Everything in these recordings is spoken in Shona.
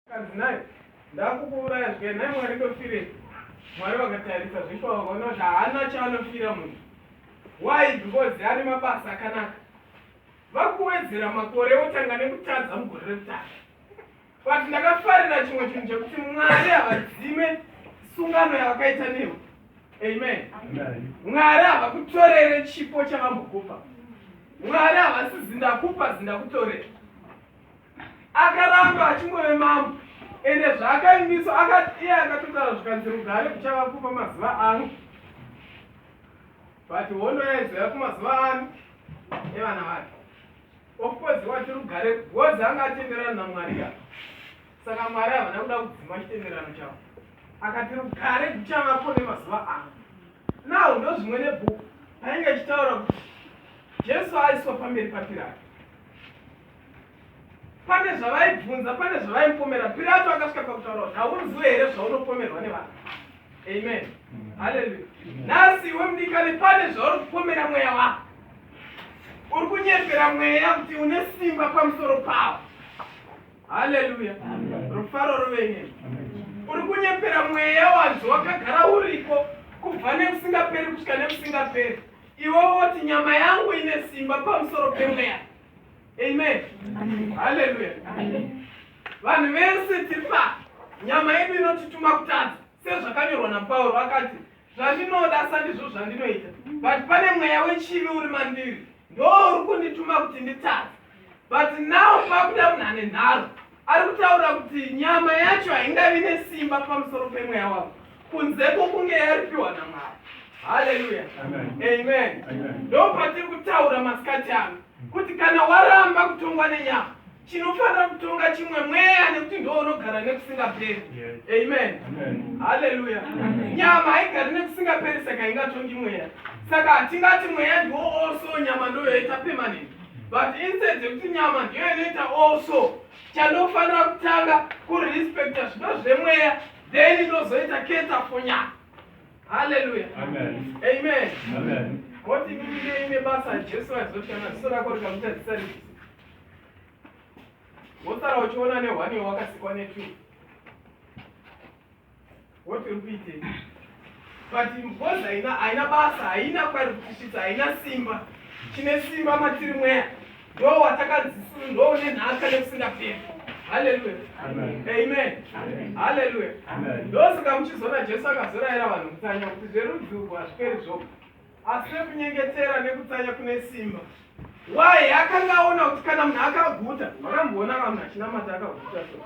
Kanzi nhai ndakukuuraya zvikai nhai Mwari ndofirei. Mwari vakatarisa zveshe vakaona kuti haana chaanofira munhu. Why? Because ane mabasa akanaka. Vakuwedzera makore otanga nekutadza mugore rekutanga. But ndakafarira chimwe chinhu chekuti Mwari havadzime sungano yavakaita newe. Amen. Mwari havakutorere chipo chavambokupa. Mwari havasizi ndakupa zindakutorera. akaramba achingove mambo ende zvaakaimiswa akati iye akatotaura zvikanzi rugare kuchava kupa mazuva ano but hondo yaizova kumazuva ano evana vake ofcourse wati rugare bcoz anga atenderana namwari ka saka mwari havana kuda kudzima chitenderano chavo akati rugare kuchavapo nemazuva ano now ndo zvimwe nebhuku painge ichitaura kuti jesu aiswa pamberi papirati pane zvavaibvunza pane zvavaimupomera pirato akasvika pakutaura kuti haunziwe here zvaunopomerwa nevanhu amen haleluya nhasi iwe mudikani pane zvauri kupomera mweya wako uri kunyepera mweya kuti une simba pamusoro pawo haleluya rufaro ruvenye uri kunyepera mweya wanzi wakagara uriko kubva nekusingaperi kusvika nekusingaperi iwe woti nyama yangu ine simba pamusoro pemweya amen haleluya vanhu vese tiri pa nyama yedu inotituma kutadza sezvakanyorwa napauro akati zvandinoda sa ndizvo zvandinoita but pane mweya wechivi uri mandiri ndo uri kundituma kuti nditadze but now pakuda munhu ane nharo Ari kutaura kuti nyama yacho haingavi nesimba pamusoro pemweya wavo kunze kwokunge yaripiwa naMwari. Haleluya. Amen. Ndo patiri kutaura masikati ano kuti kana waramba kutongwa nenyama chinofanira kutonga chimwe mweya nekuti ndo unogara nekusingaperi. Amen. Haleluya. Nyama haigari nekusingaperi saka ingatongi mweya. Saka hatingati mweya ndiwo also nyama ndoyoita permanent. but instead yekuti nyama ndiyo inoita also chandofanira kutanga kurespecta zvido zvemweya then inozoita keta for nyama haleluya amen koti mimine ine basa jesu aizotana ziso rako rikamuita zisa risi wosara uchiona nehwani wakasikwa netu what uri kuitei but ngozi haina haina basa haina kwari kutisvitsa haina simba chine simba matiri mweya ndo watakanzisuru ndo une nhaka nekusingaperi haleluya amen haleluya ndosaka muchizoona jesu akazoraira vanhu kutsanya kuti zverudzi urwu hazviperi zvoga asi nekunyengetera nekutsanya kune simba waye akanga aona kuti kana munhu akaguta makamboona ka munhu achinamata akaguta so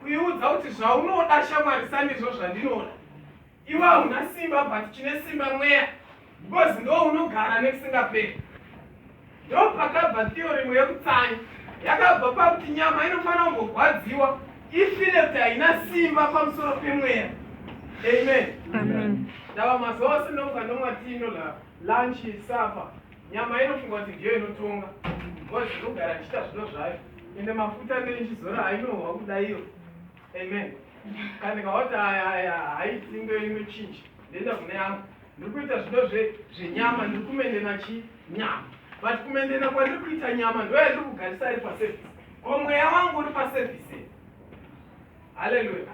kuiudza kuti zvaunoda shamwari sandizvo zvandinoda iwe hauna simba but chine simba mweya because ndo unogara nekusingaperi ndo pakabva theoremu yekutsanyi yakabva pakuti nyama inofanira kumbogwadziwa ifile kuti haina simba pamusoro pemweya amen ndava mazuva ose ndomuka ndomwatiino la lunch sapa Nyama inofunga kuti ndiyo inotonga ngozi inogara ichiita zvino zvayo ende mafuta anenge ichizora hainohwa kudaiyo amen kana ikawati haiti ndo inochinja ndoenda kune yangu ndiri kuita zvido zvenyama ndiri kumendena chi nyama but kumendena kwandiri kuita nyama ndoya ndiri kugarisa ari paservice ko mweya wangu uri paservice haleluya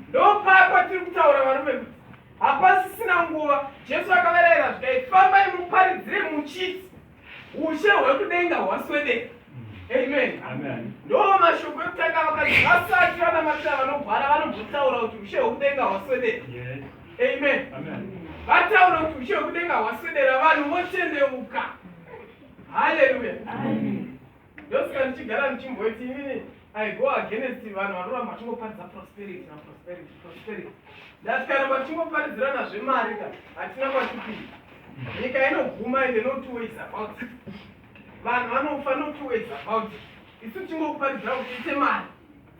ndopako tiri kutaura varume kuti hapasisina nguva jesu akavarayira zvikai fambai muparidzire muchiti ushe hwekudenga hwaswedeka amen ndo mashoko ekutanga vakati vasati vanamatira vanogwara vanobvotaura kuti ushe hwekudenga hwaswedeka amen vataura kuti ushe hwekudenga hwaswedera vanhu votendeuka haleluya ndosika ndichigara ndichimboiti inini i go against vanhu vanoramba vachingoparidza prosperity naprosperity prosperity ndatikaramba tichingoparidzirana zvemari ka hatina kwatipii nyika inoguma ende no two ways about it vanhu vanofa no two ways about it isu tichingokuparidzira kuti ite mari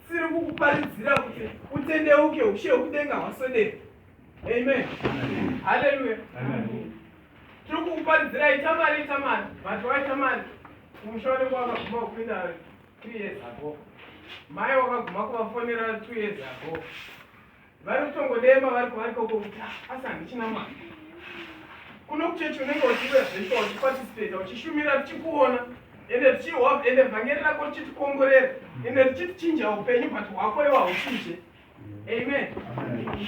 siri kukuparidzira kuti utendeuke ushe hwekudenga hwaswedera Amen. Hallelujah. Amen. Tiri kukuparidzira itamari itamari vati waitamari kumusha wanenge wakaguma kupinda two years ago mai wakaguma kuvafonera two years ago vari kutongodemba vari kuvari koko kuti ah, asi handichina mwana kuno kuchechi unenge uchiuya zvesho uchipatisipeta uchishumira tichikuona ende tichihwa ende vhangeri rako richitikomborera ende richitichinja upenyu but hwako iwa huchinje amen, amen.